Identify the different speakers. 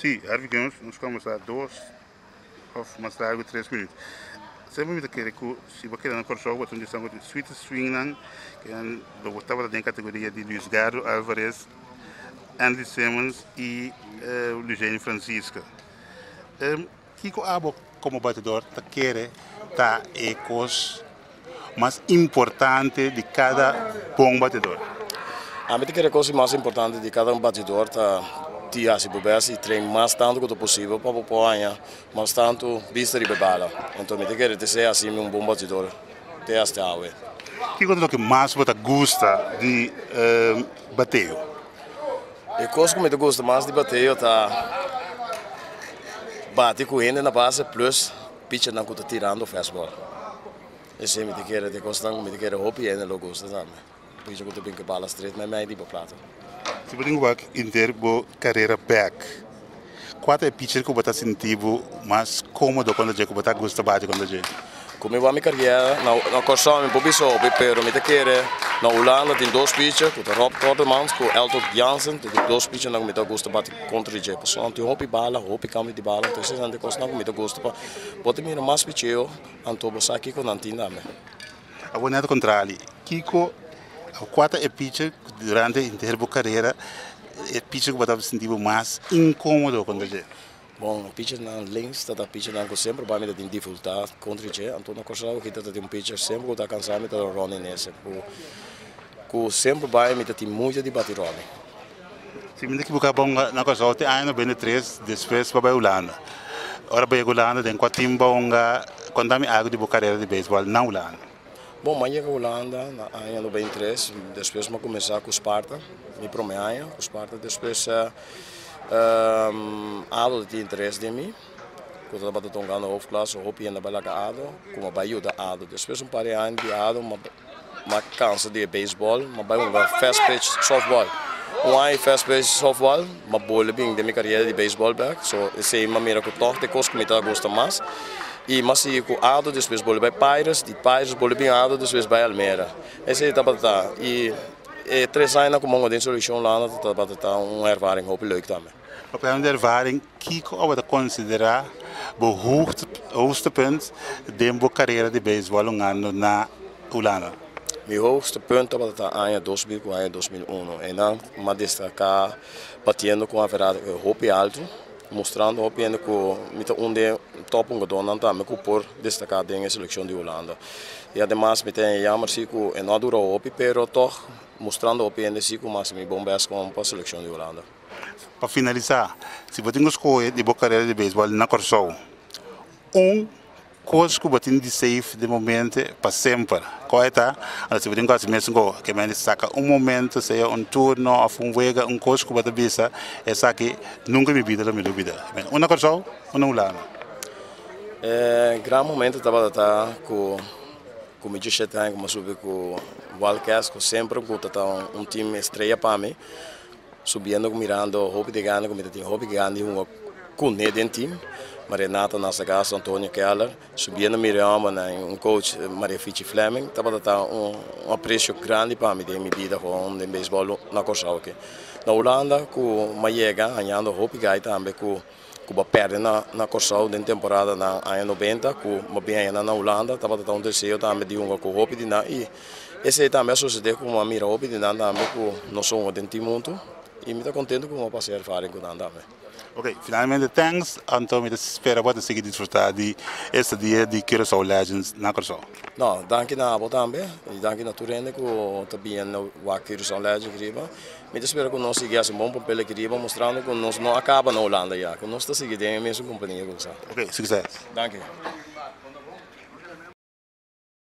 Speaker 1: Sí, Harvey Guns nos conversá dos of mas largo tres minut. Sey bo mi ta kere cu si bo keda na Corsou bo ta un di esnan cu tin sweetest swing nan ke nan lo bo tabata den categoria di Luis Gardo Alvarez, Andy Simmons y Luciano Francisco. Kiko abo komo batidor ta kere ta e kos mas importante di kada bon batidor? Ami ta kere kos mas importante di kada un batidor ta di hasi bo bes i tren mas tantu ku ta posibel pa bo por haña mas tantu bista riba e bala. Enton mi ta kere ta ser hasi mi un bon batidor te asta awe. Kiko ta loke mas bo ta gusta di bateo? E kos ku mi ta gusta mas di bateo ta bati ku hende na base plus pichanan ku ta tirando fastball. Esei mi ta kere ta e kosnan ku mi ta kere hopi hende lo gusta tambe. Picha ku ta bin ku e bala stret mei mei riba plato. Si bo tin ku wak inter bo karera bek. Kua ta e picher ku bo ta sinti bo mas komodo konta dje, ku bo ta gusta bati konta dje? Ku mi wak mi karièr, na Kòrsou mi por bisa hopi, pero mi ta kere na Hulanda tin dos picher ku ta Rob Kortemans ku Eltocht Jansen, ta tin dos pichernan ku mi ta gusta bati kontra di dje, pasobra nan tin hopi bala, hopi kambio di bala, entonces esnan ta e kosnan ku mi ta gusta, bo ta mira mas picheo anto bo sa kiko nan tin tambe. A bo nada contra Ali. Kiko a cuata e picha durante henter bo carrera e picha cu bo ta sinti bo mas incomodo con dje? Bon e pichanan links ta ta pichanan cu semper bai mi ta tin dificultad contra dje anto na Corsola ochi ta ta tin un picha semper cu ta cansa mi ta ta Ronnie Nesse cu semper bai mi ta tin mucha di bati Ronnie. Si mi ta ekibuká bonga na Kòrsou tin aña nobenta i tres despues pa bai Ulanda. Ora bai Ulanda den kua tin bonga konta mi algu di bo karera di beisbòl na Ulanda? Bon, m'a yega Ulanda na aña nobenta i tres, despues m'a kuminsá ku Sparta mi promé aña ku Sparta. Despues Ado ta tin interes den mi ku tabata tongando Hoofdklasse, hopi hende a bai laga Ado ku m'a bai yuda Ado. Despues un par di aña di Ado. Ma cansa di e baseball, ma bai hunga fast pitch softball. Un aña di fast pitch softball, ma bole bin den mi cariera di baseball bek, so esey m'a mira cu toch de cos cu mi ta gusta mas. Y m'a sigui cu Ado, despues bole bai Pirates, di Pirates bole bin Ado, despues bai Almere. Esey tabata ta, y e tres añanan cu m'unga den seleccion Hulanda tabata ta un ervaring hopi leuk tambe. Hopi aña di ervaring. Kiko a bo ta konsiderá bo hoogtepunt den bo karera di beisbòl un anu na Hulanda? Mi hoogtepunt tabata aña dos mil ku aña dos mil uno. Einan mi a destaká batiendo ku un averaj hopi altu, mustrando hopi hende ku mi ta un den tòp hungadónan tambe ku por destaká den e selekshon di Hulanda. I ademas mi ta haña yammer si ku e no a dura hopi pero tòg mustrando hopi hende si ku mi a hasi mi bon bèst kon pa selekshon di Hulanda. Pa finalisá, si bo tin ku skohe di bo karera di beisbòl na Kòrsou, un kos ku bo tin di save den bo mente pa semper, kua e ta? Alor, si bo tin ku hasi mesku ke mester saka un momento, sea un turno òf un wega, un kos ku bo ta bisa, Esaki nunka den mi bida lo mi lubida, un na Kòrsou, un na Hulanda. E gran momento tabata ta ku ku mi dishete aña, ku mi a subi ku Wildcats, ku semper ku ta un tim estreya pa mi. Subiendo cu mirando hopi de gana cu mi ta tin hopi gana di hunga cune den team ma Renato Nasagasto, Antonio Keller, subiendo mi reamba na un coach Maria Fichi Fleming tabata ta un aprecio grandi pa mi den mi bida hoon den baseball na Corsou aki. Na Hulanda cu Mayega hañando hopi gai tambe cu. ku bo a pèrdè na Kòrsou den temporada na aña noventa ku bo bin ayina na Hulanda tabata ta un deseo tambe di hunga ku hopi di nan i esei tambe a susedé ku mi a mira hopi di nan tambe ku no so hunga den tin muntu i mi ta kontentu ku mi a pasá e erfaring ku nan tambe. Ok, finalmente tènks, anto mi ta spera bo ta sigui disfrutá di e stadia di Curaçao Legends na Kòrsou. No, danki na abo tambe i danki na tur hende ku ta bini wak Curaçao Legends riba Mi ta spera cu nos sigui haci un bon papel aki riba, mostrando cu nos no a caba na Holanda ya, cu nos ta sigui den e mesun compania cu sa. Ok, succes. Danki.